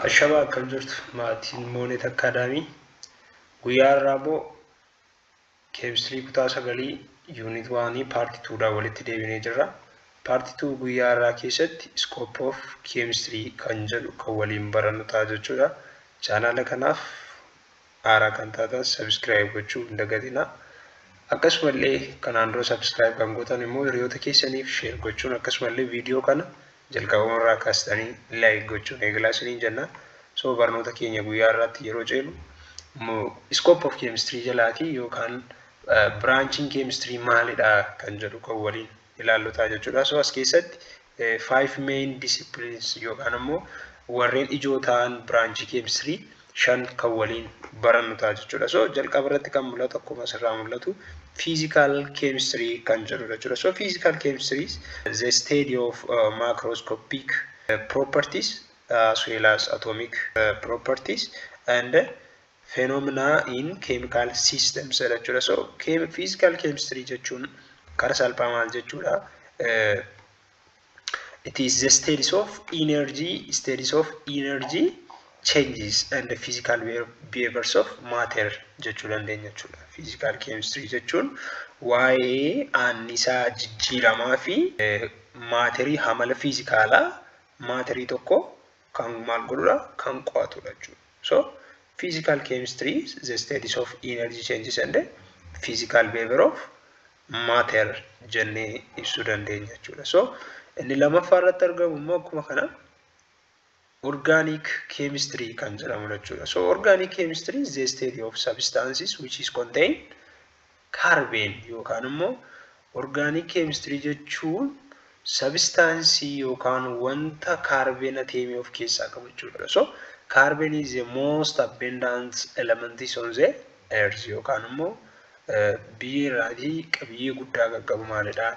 Ashamaa akkam jirtu maatiin Moonet Akkaadaamii guyyaa irraaboo keemistirii kutaa sagalii yuunit waanii paarti tuudhaan walitti deebinee jirra. Paarti tuu guyyaa irraa keessatti iskoop of keemistirii kan jedhu kan waliin barannu ta'a jechuudha. Chaanaala kanaaf Haaraa kan taatan subscribe gochuu hin dagatinaa. Akkasumallee kanaan dura subscribe kan gootan immoo hiriyoota keessaniif share gochuun akkasumallee viidiyoo kana jalqabama irraa kaastanii like gochuun eegalaa isiniin jenna. So barnoota keenya guyyaa irraatti yeroo ceenu scope of chemistry jalaati yookaan branching chemistry maalidha kan jedhu kan waliin ilaallu ta'a jechuudha. So as keessatti five main disciplines yookaan ammoo warreen ijoo ta'an biraanchii keemistirii shan kan waliin barannu ta'a jechuudha. So jalqaba irratti kan mul'atu akkuma asirraa mul'atu physical chemistry kan jedhudha jechuudha. So physical chemistry is the study of uh, macroscopic uh, properties as well as atomic uh, properties and uh, phenomena in chemical systems jedha jechuudha. So chem, physical chemistry jechuun kara salphaa maal jechuudha? Uh, it is the studies of energy, studies of energy changes and the physical behaviors of matter jechuu dandeenya jechuudha. Physical chemistry jechuun waa'ee annisaa jijjiiramaa fi maaterii hamala fiizikaalaa maaterii tokko kan maal godhudha kan qo'atudha jechuudha. So physical chemistry is the studies of energy changes and physical behavior of matter jennee ibsuu dandeenya jechuudha. So inni lammaffaa irratti argamu immoo akkuma kana organic chemistry kan jedhamudha jechuudha. So organic chemistry is the study of substances which is contained Kaarbeen yookaan immoo orgaaniik keemistirii jechuun sabistaansii yookaan wanta kaarbeen ateemii of keessaa qabu jechuudha. So kaarbeen is the most abundant elements on the earth yookaan immoo biyyee irraatii qabiyyee guddaa kan qabu maalidha?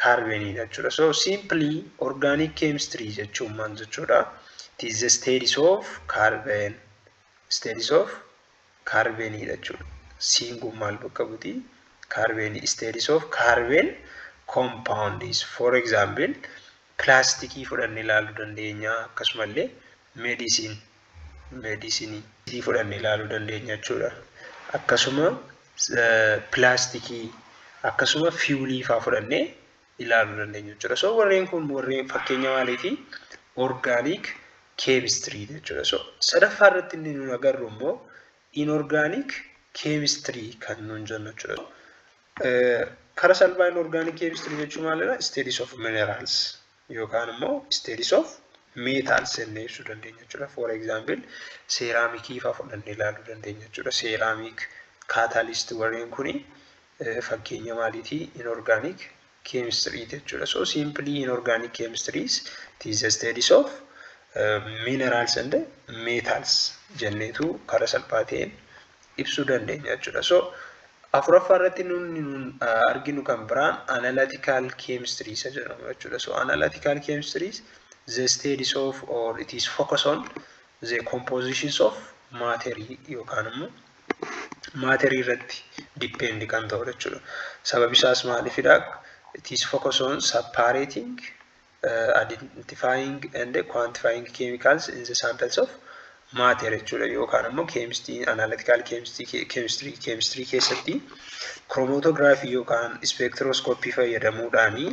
Kaarbeeniidha jechuudha. So simply orgaaniik keemistirii jechuun maal jechuudha? It is the studies of carbon. Studies of kaarbeenii dha jechuudha. C'n kun maal bakka buti? Kaarbeenii. States of carbene compounds. For example, pilaastikii fudhannee ilaaluu dandeenya akkasumallee medicine medisinii sii fudhannee ilaaluu dandeenya jechuudha. Akkasuma pilaastikii akkasuma fiwulii faa fudhannee ilaaluu dandeenya jechuudha. So warreen kun warreen fakkeenya maaliifi? Orgaaniik keemistirii jechuudha. So sadaffaa irratti inni nuun agarru immoo inorgaaniik keemistirii kan nuun jennu jechuudha. Kara salphaa inorgaaniik keemistirii jechuun maalidha? Isteedis of mineraals yookaan immoo isteedis of meetaals jennee ibsuu dandeenya jechuudha. For example seeraamikii fa'aa fudhannee ilaaluu dandeenya jechuudha. Seeraamik kaataaliist warreen kuni fakkeenya maaliiti? Inorgaaniik keemistirii jechuudha. So simply inorgaaniik keemistiriis it is the studies of minerals and metals jenneetu karaa salphaa ta'een ibsuu dandeenya jechuudha. So afuraffaa irratti nuti arginu kan biraan analytical chemistry isa jedhamu jechuudha. So analytical chemistry is the studies of or it is focus on the compositions of matter yookaan immoo maaterii irratti depend kan ta'udha jechuudha. Sababi isaas maaliifidha? It is focus on separating, uh, identifying and quantifying chemicals in the samples of matter jechuudha yookaan ammoo chemistry analytical chemistry chemistry chemistry keessatti chromatography yookaan spectroscopy fayyadamuudhaani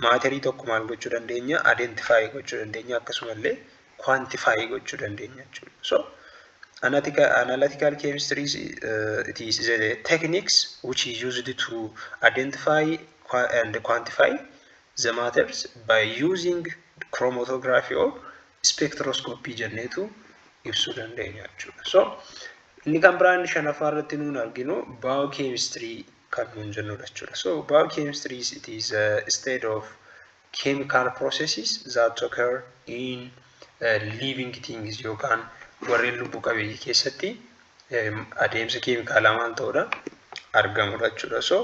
maaterii tokko maal gochuu dandeenya identify gochuu dandeenya akkasumallee quantify gochuu dandeenya jechuudha. So analytical, analytical chemistry is, uh, it is the techniques which is used to identify qua- and quantify the matters by using chromatography or spectroscopy jenneetu ibsuu dandeenya jechuudha. So inni kan biraan shanaffaa irratti nuun arginu biochemistry kan nuun jennudha jechuudha. So biochemistry is it is a state of chemical processes that occur in living things yookaan warreen lubbu qabeeyyii keessatti adeemsa keemikaalaa maal ta'udha argamudha jechuudha. So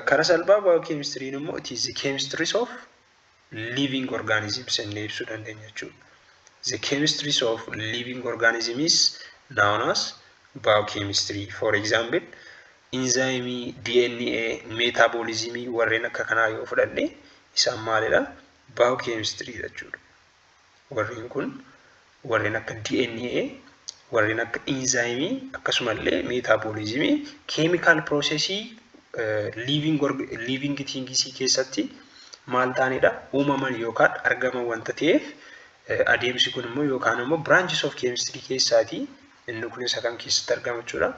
karaa salphaa baayokeemistiriin immoo it is the chemistries of living organisms jennee ibsuu dandeenya jechuudha. The chemistries of living organism is known as biochemistry. For example, Inzaayimii, DNA, meetaabooliizimii warreen akka kanaa yoo fudhanne isaan maalidha? Baayookeemistiriidha jechuudha. Warreen kun warreen akka DNA, warreen akka inzaayimii akkasumallee meetaabooliizimii keemikaal piroosesii liiviingi tiingisii keessatti maal ta'anidha? Uumaman yookaan argaman wanta ta'eef adeemsi kun immoo yookaan immoo biraanchis of keemistirii keessaatii Inni kun isa kam keessatti argama jechuudha?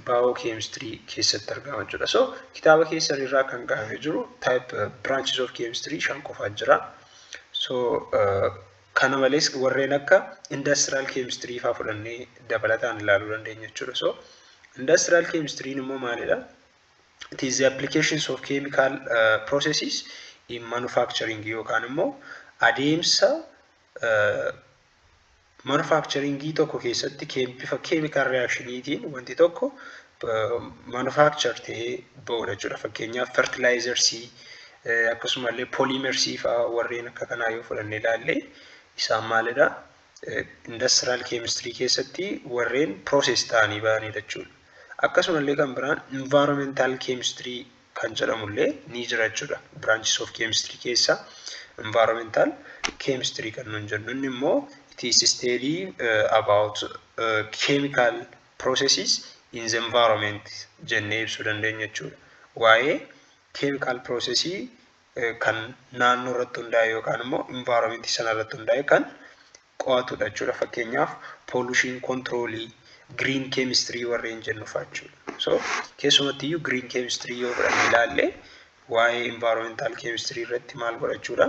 Baayoo keemistirii keessatti argama jechuudha. So kitaaba keessan irraa kan kaa'amee jiru type branches of chemistry shan qofaa jira. So kana malees warreen akka industrial chemistry faa fudhannee dabalataan ilaaluu dandeenya jechuudha. So industrial chemistry immoo maalidha? It is the applications of chemical uh, processes in manufacturing yookaan immoo adeemsa manufakcharingii tokko keessatti bifa keemikaal riyaakshiniitiin wanti tokko manufakchar ta'ee ba'udha jechuudha. Fakkeenyaaf fertilaayizarsii akkasumallee pooliimersii fa'aa warreen akka kanaa yoo fudhannee ilaalle isaan maalidha? Indastiraal keemistirii keessatti warreen pirooses ta'anii ba'anidha jechuudha. Akkasumallee kan biraan invaaromentaal keemistirii kan jedhamu illee ni jira jechuudha. Branches of chemistry keessaa environmental chemistry kan nuun jennu inni immoo it is study uh, about uh, chemical processes in the environment jennee ibsuu dandeenya jechuudha. Waa'ee chemical processii kan naannoo irratti hundaa'e yookaan immoo environment sana irratti hundaa'e kan qo'atudha jechuudha. Fakkeenyaaf poolushiin kontiroolii, giriin keemistirii warreen jennu fa'a jechuudha. So keessumatti iyyuu giriin keemistirii yoo fudhanne ilaalle waa'ee envaaromentaal keemistirii irratti maal godhachuudha?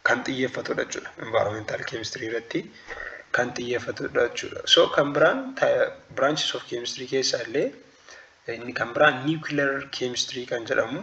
Kan xiyyeeffatudha jechuudha. Envaaromentaal keemistirii irratti kan xiyyeeffatudha jechuudha. So kan biraan branches of keemistirii keessaa illee inni kan biraan niwukilar keemistirii kan jedhamu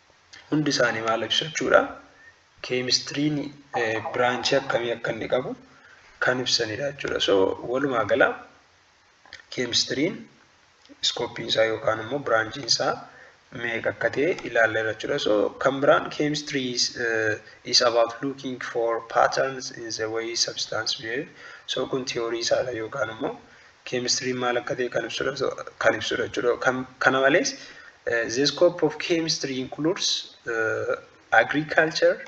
hundi isaanii maal ibsu jechuudha. Keemistiriin biraanchii akkamii akka inni qabu kan ibsanidha jechuudha. So walumaa gala keemistiriin iskooppiin isaa yookaan immoo biraanchiin isaa meeqa akka ta'e ilaalleerra jechuudha. So kan biraan keemistirii is, uh, is about looking for patterns in the way substance behave. So kun tiyoorii isaadha yookaan immoo keemistiriin maal akka ta'e kan ibsudha kan ibsudha jechuudha. Kana malees the scope of chemistry includes uh, agriculture,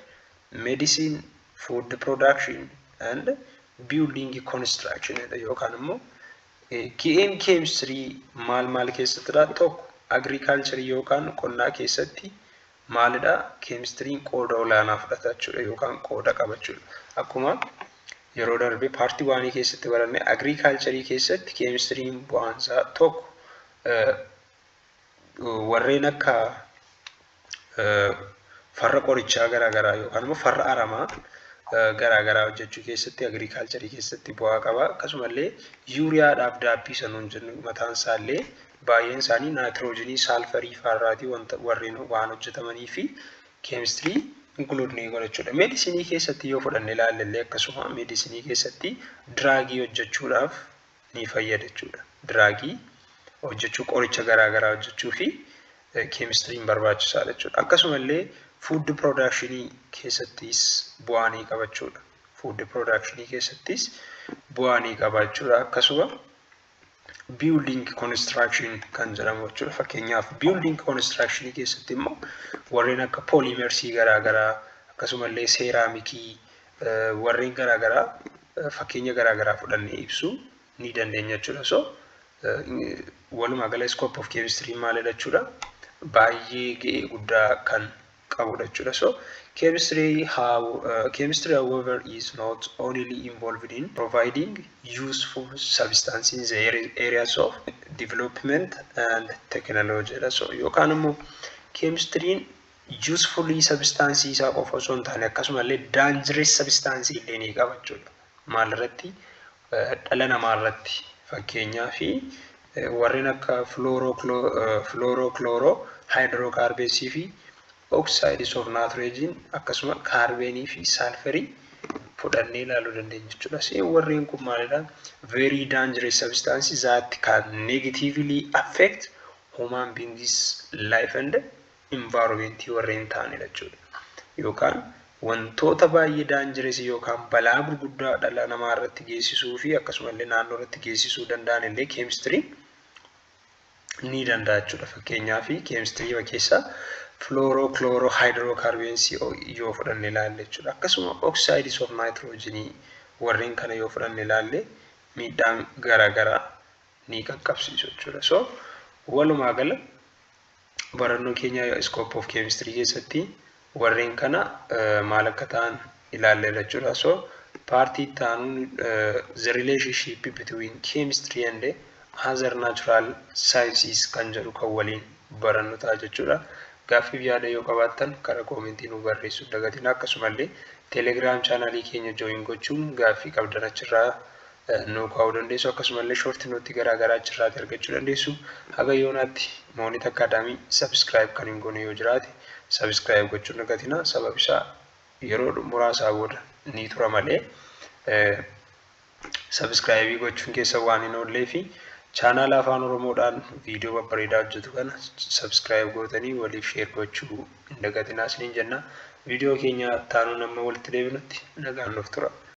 medicine, food production and building construction yookaan immoo ki'een keemistirii maal maal keessatti dha tokko agriculture yookaan qonnaa keessatti maalidha? Keemistiriin qooda olaanaa fudhata jechuudha yookaan qooda qaba jechuudha. Akkuma yeroo darbe paartii waanii keessatti baranne agriikaalcharii keessatti keemistiriin bu'aansaa tokko warreen akka farra qorichaa garaagaraa yookaan immoo farra aramaa garaagaraa hojjechuu keessatti agriikaalcharii keessatti bu'aa qaba. Akkasumallee yuuriyaadhaaf daabbii sanuun jennu mataan isaallee Baay'een isaanii naayitiroojenii, saalfarii faarraatii wanta warreen waan hojjetamanii fi keemistirii inkuluudnii godhachuudha. Meedisinii keessatti yoo fudhanne ilaalle illee akkasuma meedisinii keessatti diraagii hojjechuudhaaf ni fayyada jechuudha. Diraagii hojjechuu qoricha garaa garaa hojjechuu fi keemistiriin barbaachisaadha jechuudha. Akkasuma illee fuuddi piroodakshinii keessattis bu'aa ni qaba jechuudha. Fuuddi piroodakshinii keessattis bu'aa ni qaba jechuudha. Akkasuma building construction kan jedhamu jechuudha. Fakkeenyaaf building construction keessatti immoo warreen akka pooliimersii garaagaraa akkasumallee seeraamikii warreen garaagaraa fakkeenya garaagaraa fudhannee ibsuu ni dandeenya jechuudha. So walumaa gala scope of chemistry maalidha jechuudha. Baay'ee ga'ee guddaa kan qabudha jechuudha. So chemistry how uh, chemistry however is not only involved in providing useful substance in the areas of development and technology dha. So yookaan immoo keemistiriin useful substance isaa qofa osoo hin taane akkasumallee dangerous substance illee ni qaba jechuudha. Maalirratti dhala namaa irratti fakkeenyaaf warreen akka filoorooklooroo haayidirookaarbeesii fi oksaayidiis of naatireejiin akkasuma kaarbeenii fi saalferii fudhannee ilaaluu dandeenya jechuudha. Seen warreen kun maalidha? Very dangerous substances that can negatively affect human beings life and environment warreen ta'anidha jechuudha. Yookaan wantoota baay'ee daanjireesii yookaan balaa gurguddaa dhala namaa irratti geessisuu fi akkasumallee naannoo irratti geessisuu danda'an illee keemistiriin ni danda'a jechuudha. Fakkeenyaaf keemistirii keessaa fluoro, chloro, hydrocarbons yoo fudhanne ilaalle jechuudha. Akkasuma oxides of nitrogen warreen kana yoo fudhanne ilaalle miidhaan garaagaraa ni qaqqabsiisu jechuudha. So walumaa gala barannoo keenya scope of chemistry keessatti warreen kana maal akka ta'an ilaalleerra jechuudha. So paartii itti aanuun the relationship between chemistry and other natural sciences kan jedhu kan waliin barannu ta'a jechuudha. Gaaffiif yaada yoo qabaattan karaa koomentii nu barreessuu hin dagatinaa akkasumallee telegiraam chaanaalii keenya jooyin gochuun gaaffii qabdan achirraa nuu kaa'uu dandeessu akkasumallee short note garaagaraa achirraati argachuu dandeessu haga yoonaatti moonit akkaadaamii subscribe kan hin goone yoo jiraate subscribe gochuu hin dagatina sababi isaa yeroo muraasaa booda ni tura malee subscribe gochuun keessa waan hin oollee fi chaanaala afaan oromoodhaan viidiyoo babbareedaa hojjetu kana subscribe gootanii waliif sheer gochuu hin dagatinaa isiniin jenna viidiyoo keenya taanuun amma walitti deebinutti nagaan nuuf tura.